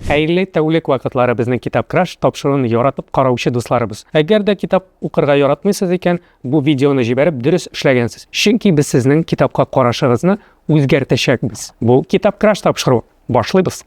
Хәерле тәүлек вакытлары безнең Китап Краш тапшыруын яратып караучы дусларыбыз. Әгәр дә китап укырга яратмыйсыз икән, бу видеоны җибәреп дөрес эшләгәнсез. Чөнки без сезнең китапка карашыгызны үзгәртәчәкбез. Бу Китап Краш тапшыруы. Башлыйбыз!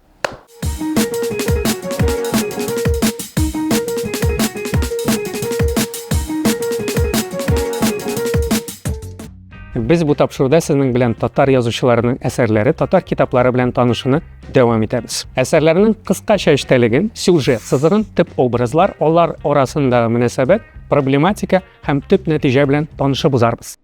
Без бу тапшыруда сезнең белән татар язучыларының әсәрләре, татар китаплары белән танышуны дәвам итәбез. Әсәрләрнең кыскача эчтәлеген, сюжет сызыгын, төп образлар, алар арасындагы мөнәсәбәт, проблематика һәм төп нәтиҗә белән танышып узарбыз.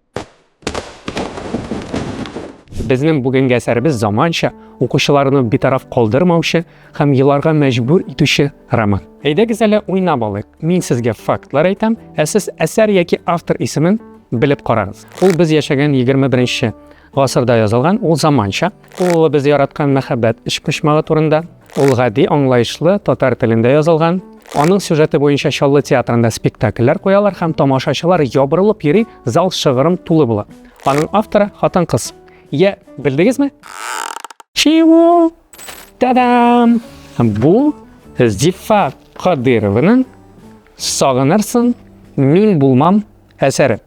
Безнең бүгенге әсәребез заманча, укучыларны битараф калдырмаучы һәм еларга мәҗбүр итүче роман. Әйдәгез әле уйнап алыйк. Мин сезгә фактлар әйтәм, ә сез әсәр яки автор исемен белеп карагыз. Ул без яшәгән 21 нче гасырда язылган, ул заманча. Ул улы без яраткан мәхәббәт өчпочмагы турында. Ул гади, аңлаешлы, татар телендә язылган. Аның сюжеты буенча Чаллы театрында спектакльләр куялар һәм тамашачылар ябырылып йөри, зал шыгрым тулы була. Аның авторы, хатын-кыз. Йә, белдегезме? Чего? Та-дам! Бу Зифа Кадырованың Сагынырсың, мин булмам әсәре.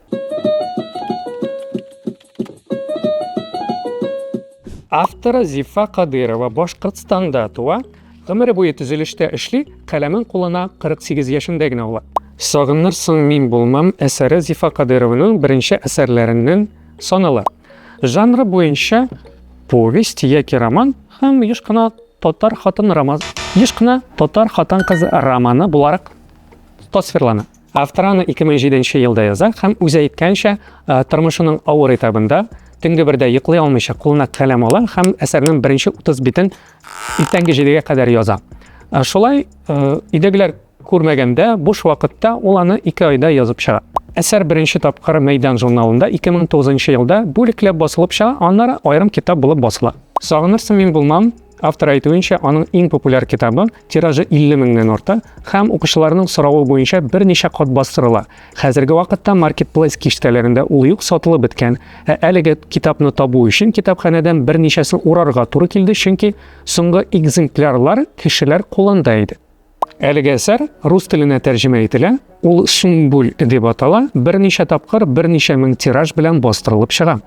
Авторы Зифа Кадырова Башкортстанда туа, гомере буе төзелештә эшли, каләмен кулына 48 яшендә генә ала. Сагынырсың мин булмам әсәре Зифа Кадырованың беренче әсәрләреннән санала. Жанры буенча повесть яки роман һәм еш кына татар хатын роман еш кына татар хатын-кыз романы буларак тасвирлана. Автор аны 2007 елда яза һәм үзе әйткәнчә, тормышының авыр этабында төнге бердә йоклый алмыйча кулына каләм ала һәм әсәрнең беренче 30 битен иртәнге 7-гә кадәр яза. Шулай идегеләр күрмәгәндә, буш вакытта ул аны 2 айда язып чыга. Әсәр беренче тапкыр Мәйдан журналында 2009 елда бүлекләп басылып чыга, аннары аерым китап булып басыла. Сагынырсың мин булмам, Автор әйтүенчә, аның иң популяр китабы, тиражы 50 меңнән арта һәм укучыларның соравы буенча берничә кат бастырыла. Хәзерге вакытта маркетплейс киштәләрендә ул юк, сатылып беткән. Ә әлеге китапны табу өчен китапханәдән берничәсен урарга туры килде, чөнки соңгы экземплярлар кешеләр кулында иде. Әлеге әсәр рус теленә тәрҗемә ителә, ул Сүмбүл дип атала, берничә тапкыр берничә мең тираж белән бастырылып чыга.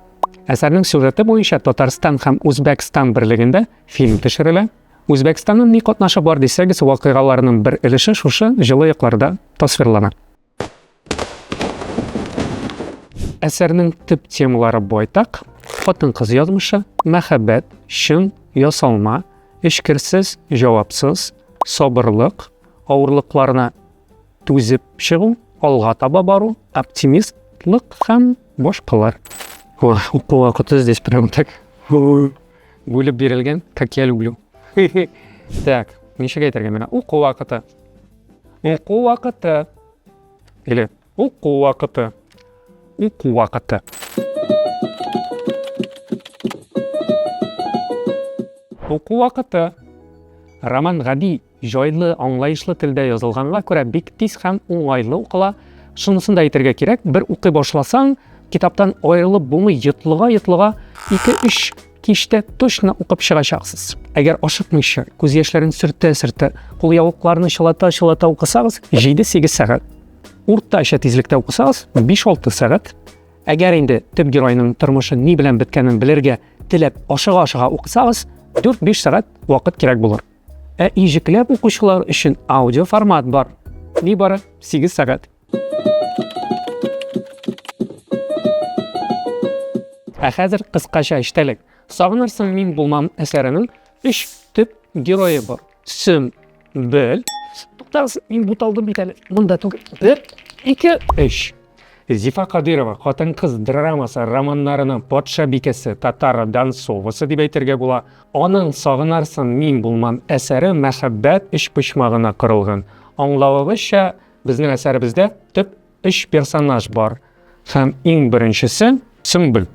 Әсәрнең сюжеты буенча Татарстан һәм Үзбәкстан берлегендә фильм төшерелә. Үзбәкстанның ни катнашы бар дисәгез, вакыйгаларның бер өлеше шушы җылы якларда тасвирлана. Әсәрнең төп темалары байтак, хатын-кыз язмышы, мәхәббәт, чын, ясалма, эчкерсез, җавапсыз, сабырлык, авырлыкларына түзеп чыгу, алга таба бару, оптимистлык һәм башкалар. О, уку вакыты здесь прям так бүлеп бирелгән, как я люблю. Так, ничек әйтергә менә уку вакыты. Уку вакыты. Или уку вакыты. Уку вакыты. Уку вакыты. Роман гади, җайлы, аңлаешлы телдә язылганга күрә бик тиз һәм уңайлы укыла. Шунысын да әйтергә кирәк, бер укый башласаң, китаптан аерылып булмый, йотлыга-йотлыга 2-3 Кичтә точно укып чыгачаксыз. Әгәр ашыкмыйча, күз яшьләрен сөртә-сөртә, кул явыкларны чылата-чылата укысагыз, 7-8 сәгать. Уртача тизлектә укысагыз, 5-6 сәгать. Әгәр инде төп геройның тормышы ни белән беткәнен белергә теләп ашыга-ашыга укысагыз, 4-5 сәгать вакыт кирәк булыр. Ә иҗекләп укучылар өчен аудиоформат бар. Нибары 8 сәгать. Ә хәзер кыскача эчтәлек. Сагынырсың мин булмам әсәренең өч төп герое бар. Сөм, бел, туктагыз, мин буталдым бит әле. Монда түгел. Бер, ике, өч. Зифа Кадырова хатын-кыз драмасы романнарының патша бикәсе татар Дансовасы дип әйтергә була. Аның Сагынарсың мин булмам әсәре мәхәббәт өчпочмагына корылган. Аңлавыбызча, Безнең әсәребездә төп өч персонаж бар һәм иң беренчесе Сөмбел.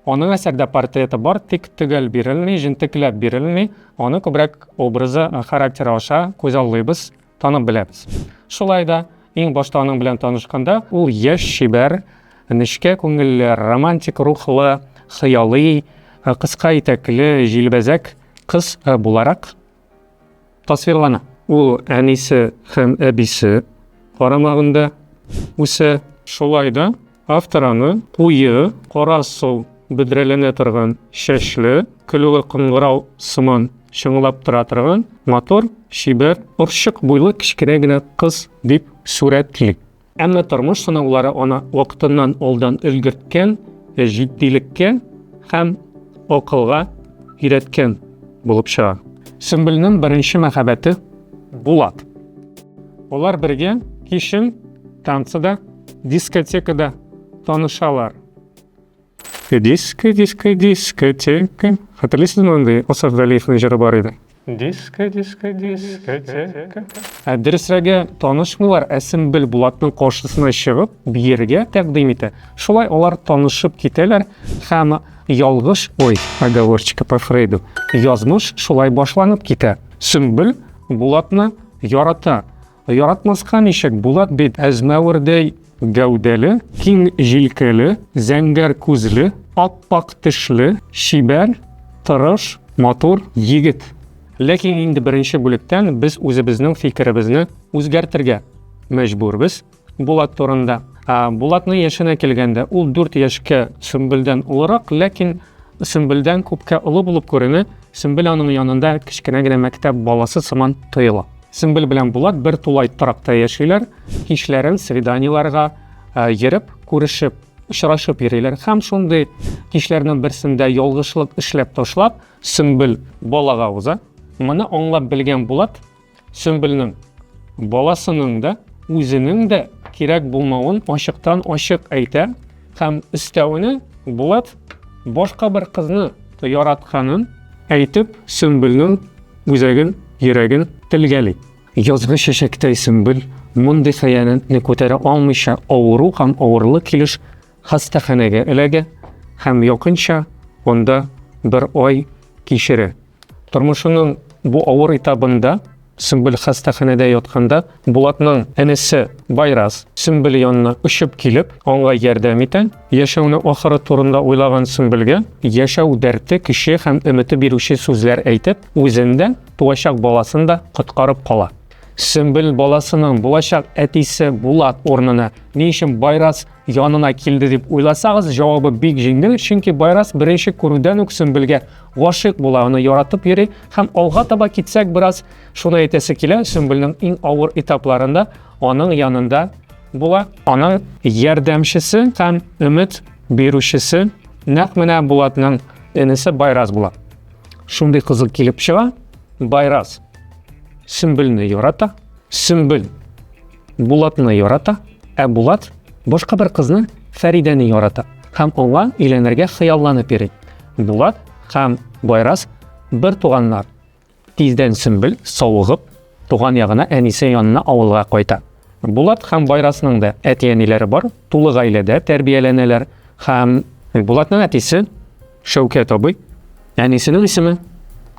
Аның әсәрдә портреты бар, тик төгәл бирелми, җентекләп бирелми. Аны күбрәк образы, характеры аша күзаллыйбыз, танып беләбез. Шулай да, иң башта аның белән танышканда, ул яшь, чибәр, нечкә күңелле, романтик рухлы, хыялый, кыска итәкле, җилбәзәк кыз буларак Тасвирлана. Ул әнисе һәм әбисе карамагында үсә. Шулай да автор аны куе, кара сул бөдрәләнә торган чәчле, көлүе кыңгырау сыман чыңлап тора торган матур, чибәр, орчык буйлы кечкенә генә кыз дип сурәтли. Әмма тормыш сынаулары аны вакытыннан алдан өлгерткән, җитдилеккә һәм акылга өйрәткән булып чыга. Сөмбелнең беренче мәхәббәте Булат. Алар бергә кичен танцыда, дискотекада танышалар. Диско, диско, дискотека. Хәтерлисезме мондый Асаф Галиевның җыры бар иде? Диско, диско, дискотека. Ә дөресрәге, танышмыйлар, ә Сөмбел Булатның каршысына чыгып, биергә тәкъдим итә. Шулай алар танышып китәләр һәм ялгыш, ой, оговорчика по Фрейду, язмыш шулай башланып китә. Сөмбел Булатны ярата, Яратмаска ничек, Булат бит әзмәвердәй гәүдәле, киң җилкәле, зәңгәр күзле, ап-ак тешле, чибәр, тырыш, матур егет. Ләкин инде беренче бүлектән без үзебезнең фикеребезне үзгәртергә мәҗбүрбез Булат турында. Булатның яшенә килгәндә, ул 4 яшькә Сөмбелдән олырак, ләкин Сөмбелдән күпкә олы булып күренә, Сөмбел аның янында кечкенә генә мәктәп баласы сыман тоела. Сөмбел белән Булат бер тулай торакта яшиләр, кичләрен свиданиеләргә йөреп, күрешеп, очрашып йөриләр. Һәм шундый кичләрнең берсендә ялгышлык эшләп ташлап, Сөмбел балага уза. Моны аңлап белгән Булат Сөмбелнең баласының да, үзенең дә кирәк булмавын ачыктан ачык әйтә һәм өстәвенә Булат башка бер кызны яратканын әйтеп, Сөмбелнең Үзәген, йөрәген телгәли. Язгы чәчәктәй сөмбел мондый хыянәтне күтәрә алмыйча авыру һәм авырлы килеш хастаханәгә эләгә һәм якынча анда бер ай кичерә. Тормышының бу авыр этабында Сөмбел хастаханәдә ятканда Булатның энесе Байрас Сөмбел янына очып килеп, аңа ярдәм итә. Яшәүне ахыры турында уйлаган Сөмбелгә яшәү дәрте көче һәм өмете бирүче сүзләр әйтеп, үзен дә, туачак баласын да коткарып кала. Сөмбел баласының булачак әтисе Булат урынына ни өчен Байрас янына килде дип уйласагыз, җавабы бик җиңел, чөнки Байрас беренче күрүдән үк Сөмбелгә гашыйк була, аны яратып йөри һәм алга таба китсәк бераз, шуны әйтәсе килә, Сөмбелнең иң авыр этапларында аның янында була. Аның ярдәмчесе һәм өмет бирүчесе нәкъ менә Булатның энесе Байраз була. Шундый кызыл килеп чыга. Байраз Сөмбелне ярата, Сөмбел Булатны ярата, ә Булат башка бер кызны Фәридәне ярата һәм аңа өйләнергә хыялланып йөри. Булат һәм Байраз бер туганнар. Тиздән Сөмбел, савыгып, туган ягына әнисе янына авылга кайта. Булат һәм Байрасның да әти-әниләре бар, тулы гаиләдә тәрбияләнәләр һәм Булатның әтисе Шәүкәт абый, әнисенең исеме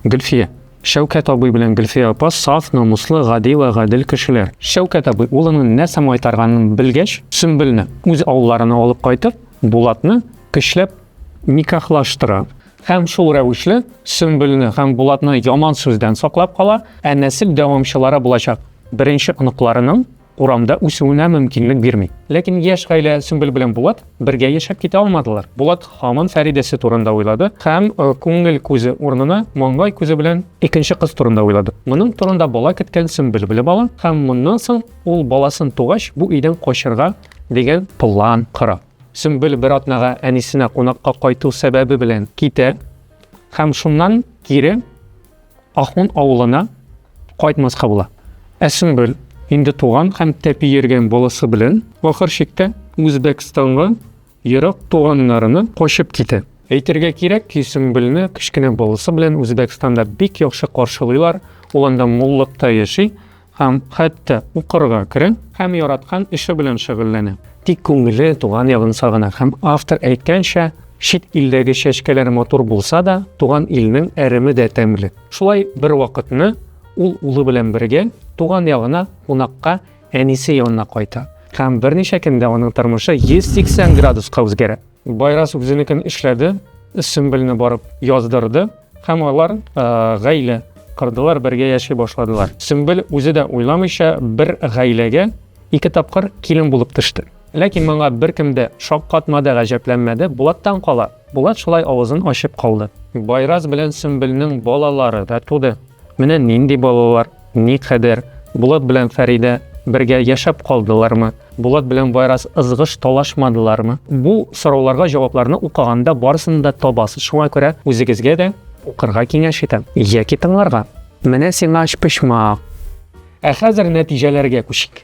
Гөлфия. Шәүкәт абый белән Гөлфия апа саф, намуслы, гади вә гадел кешеләр. Шәүкәт абый улының нәрсә майтарганын белгәч, Сөмбелне үз авылларына алып кайтып, Булатны көчләп никахлаштыра. Һәм шул рәвешле Сөмбелне һәм Булатны яман сүздән саклап кала, ә нәсел дәвамчылары булачак беренче оныкларының урамда үсүенә мөмкинлек бирми. Ләкин яшь гаилә Сөмбел белән Булат бергә яшәп китә алмадылар. Булат һаман Фәридәсе турында уйлады һәм э, күңел күзе урынына маңгай күзе белән икенче кыз турында уйлады. Моның турында бала көткән Сөмбел белеп ала һәм моннан соң ул баласын тугач бу өйдән качырга дигән план кора. Сөмбел бер атнага әнисенә кунакка кайту сәбәбе белән китә һәм шуннан кире Ахун авылына кайтмаска була. Ә Сөмбел инде туган һәм тәпи йөргән баласы белән ахыр чиктә Үзбәкстанга ерак туганнарына качып китә. Әйтергә кирәк ки, Сөмбелне кечкенә баласы белән Үзбәкстанда бик яхшы каршылыйлар, ул анда муллыкта яши. һәм хәтта укырга керә һәм яраткан эше белән шөгыльләнә. Тик күңеле туган ягын сагына һәм автор әйткәнчә, чит илдәге чәчкәләр матур булса да, туган илнең әреме дә тәмле. Шулай бер вакытны ул улы белән бергә туган ягына кунакка әнисе янына кайта һәм берничә көндә аның тормышы 180 градуска үзгәрә. Байрас үзенекен эшләде, Сөмбелне барып яздырды һәм алар гаилә кырдылар, бергә яши башладылар. Сөмбел үзе дә уйламыйча бер гаиләгә ике тапкыр килен булып төште. Ләкин моңа беркем дә шаккатмады, гаҗәпләнмәде. Булаттан кала, Булат шулай авызын ачып калды. Байрас белән Сөмбелнең балалары да туды. Менә нинди балалар. Никадәр? Булат белән Фәридә бергә яшәп калдылармы? Булат белән Байрас ызгыш талашмадылармы? Бу сорауларга җавапларны укыганда барысын да табасыз. Шуңа күрә үзегезгә дә укырга киңәш итәм. Яки тыңларга. Менә сиңа өчпочмак. Ә хәзер нәтиҗәләргә күчик.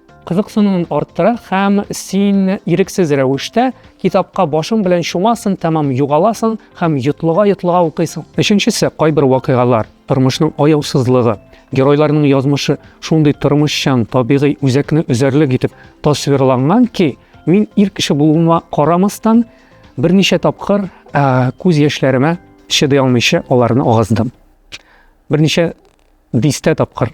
кызыксынуын арттыра һәм син ирексез рәвештә китапка башың белән чумасың, тәмам югаласың һәм йотлыга-йотлыга укыйсың. Өченчесе, кайбер вакыйгалар, тормышның аяусызлыгы, геройларның язмышы шундый тормышчан, табигый үзәкне өзәрлек итеп тасвирланган ки, мин ир кеше булуыма карамастан, берничә тапкыр күз яшьләремә чыдый алмыйча аларны агыздым. Берничә дистә тапкыр.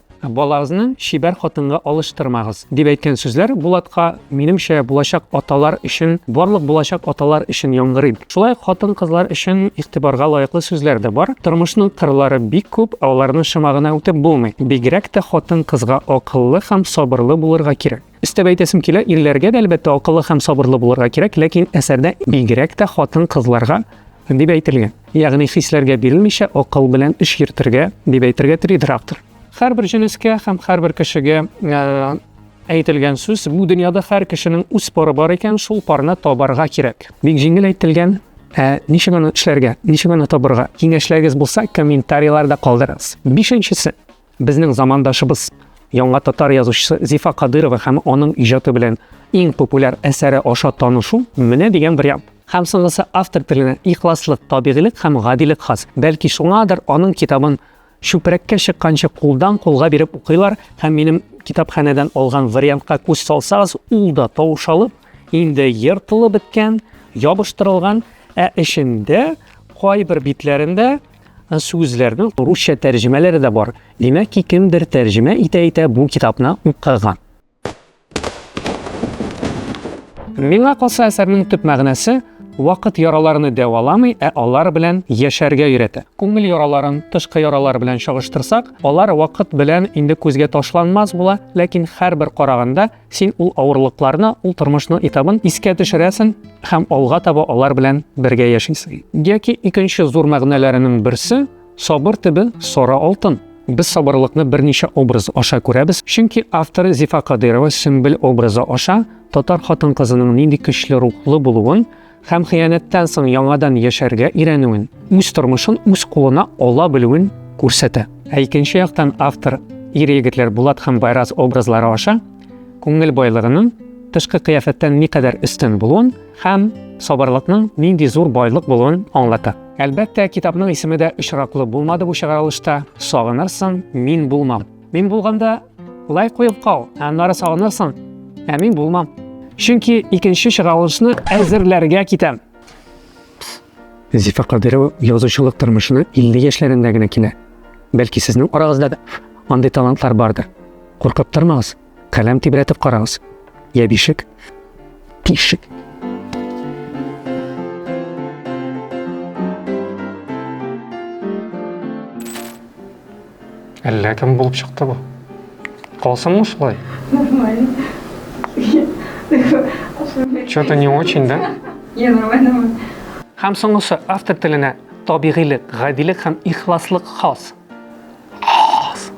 Балагызны чибәр хатынга алыштырмагыз, дип әйткән сүзләр Булатка, минемчә, булачак аталар өчен, барлык булачак аталар өчен яңгырый. Шулай ук хатын-кызлар өчен игътибарга лаеклы сүзләр дә бар. Тормышның кырлары бик күп, аларны шома гына үтеп булмый. Бигрәк тә хатын-кызга акыллы һәм сабырлы булырга кирәк. Өстәп әйтәсем килә, ирләргә дә, әлбәттә, акыллы һәм сабырлы булырга кирәк, ләкин әсәрдә бигрәк тә хатын-кызларга дип әйтелгән. Ягъни хисләргә бирелмичә, акыл белән эш йөртергә дип әйтергә телидер автор. Һәрбер җенескә һәм һәрбер кешегә әйтелгән сүз, бу дөньяда һәр кешенең үз пары бар икән, шул парны табарга кирәк. Бик җиңел әйтелгән, ә ничек аны эшләргә, ничек аны табарга? Киңәшләрегез булса, комментарийларда калдырыгыз. Бишенчесе. Безнең замандашыбыз, яңа татар язучысы Зифа Кадырова һәм аның иҗаты белән иң популяр әсәре аша танышу, менә дигән вариант. Һәм соңгысы автор теленә ихласлык, табигыйлек һәм гадилек хас. Бәлки шуңадыр аның китабын чүпрәккә чыкканчы кулдан кулга биреп укыйлар, һәм минем китапханәдән алган вариантка күз салсагыз, ул да таушалып, инде ертылып беткән, ябыштырылган, ә эчендә кайбер битләрендә Сүзләрнең русча тәрҗемәләре дә бар. Димәк ки, кемдер тәрҗемә итә-итә бу китапны укыган. Миңа калса, әсәрнең төп мәгънәсе, вакыт яраларны дәваламый, ә алар белән яшәргә өйрәтә. Күңел яраларын тышкы яралар белән чагыштырсак, алар вакыт белән инде күзгә ташланмас була, ләкин һәрбер караганда, Син ул авырлыкларны, ул тормышның этабын искә төшерәсең һәм алга таба алар белән бергә яшисең. Яки икенче зур мәгънәләренең берсе, сабыр төбе, сара алтын. Без сабырлыкны берничә образ аша күрәбез, чөнки автор Зифа Кадыйрова Сөмбел образы аша татар хатын-кызының нинди көчле рухлы булуын, һәм хыянәттән соң яңадан яшәргә өйрәнүен, үз тормышын үз кулына ала белүен күрсәтә. Ә икенче яктан автор ир-егетләр Булат һәм Байрас образлары аша күңел байлыгының тышкы кыяфәттән никадәр өстен булуын һәм сабырлыкның нинди зур байлык булуын аңлата. Әлбәттә, китапның исеме дә очраклы булмады бу чыгарылышта, Сагынырсың, мин булмам. Мин булганда лай куеп кал, аннары сагынырсың, ә мин булмам. Чөнки икенче чыгарылышны әзерләргә китәм. Зифа Кадырова язучылык тормышына 50 яшьләрендә генә килә. Бәлки сезнең арагызда да андый талантлар бардыр. Куркып тормагыз, каләм тибрәтеп карагыз. Я бишек, пишек. Әллә кем булып чыкты бу. Калсынмы шулай? Нормально. Что-то не очень, да? Не, нормально. Һәм соңгысы автор теленә табигыйлек, гадилек һәм ихласлык хас. Хас.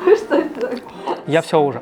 Я все уже.